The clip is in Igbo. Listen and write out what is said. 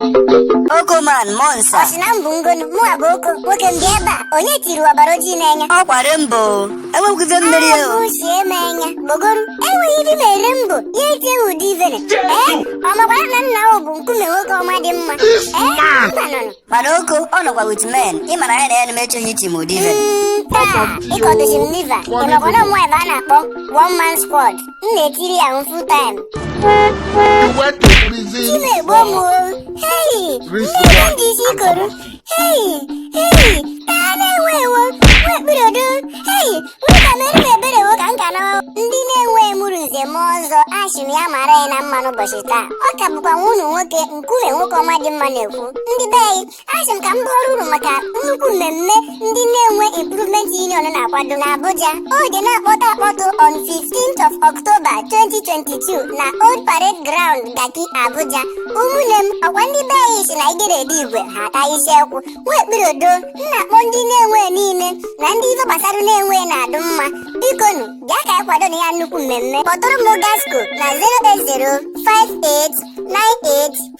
Oko man Monsa ọ sị na mbụ ngonu mụ abụ oko nwoke m bịa ebe a onye tiri ọbara ojii n'anya ọ kwa Rainbow enwekwugo mmeri o ahụ sie m anya gbogoru enweghị ive m me Rainbow ya etie ụdị ive ne ee ọ makwara na nna ahụ bụ Nkume nwoke ọma dị mma ee mba nọnụ mana Oko ọ nọkwa with men ị mara ya na ya na-emechi onye iti m ụdị ive Mm, taa ị kọdozi m liver ị makwa na ụmụ ebe a na-akpọ one man squad m na-etiri ya full time chi m egbuo m o hei ebe m ji isi koru hei hei taa Nenwe ewo Nwekpirodo hei nweta mere m ebere wo ka m ka nawa ndị Nenwe mụrụ nze m ọzọ ashị m ya mara ya na mma n'ụbọchị taa ọ ka bụkwa nwa unu nwoke Nkume nwoke ọma dị mma na-ekwu ndị be anyị Asị m ka m bọọrọ unu maka nnukwu mmemme ndị Nenwe Improvement Union na-akwado n'Abuja. Ọ ga na-akpọtụ akpọtụ on 15th of October 2022 na Old Parade Ground Garki Abuja. Ụmụnne m ọkwa ndị be anyị si na igere ede igwe ha ata isi ekwu Nwekpirodo m na-akpọ ndị Nenwe niile na ndị ife gbasara Nenwe na-adụ mma bikonu bịa ka anyị kwado na ya nnukwu mmemme kpọtụrụ m Gasco na 0805898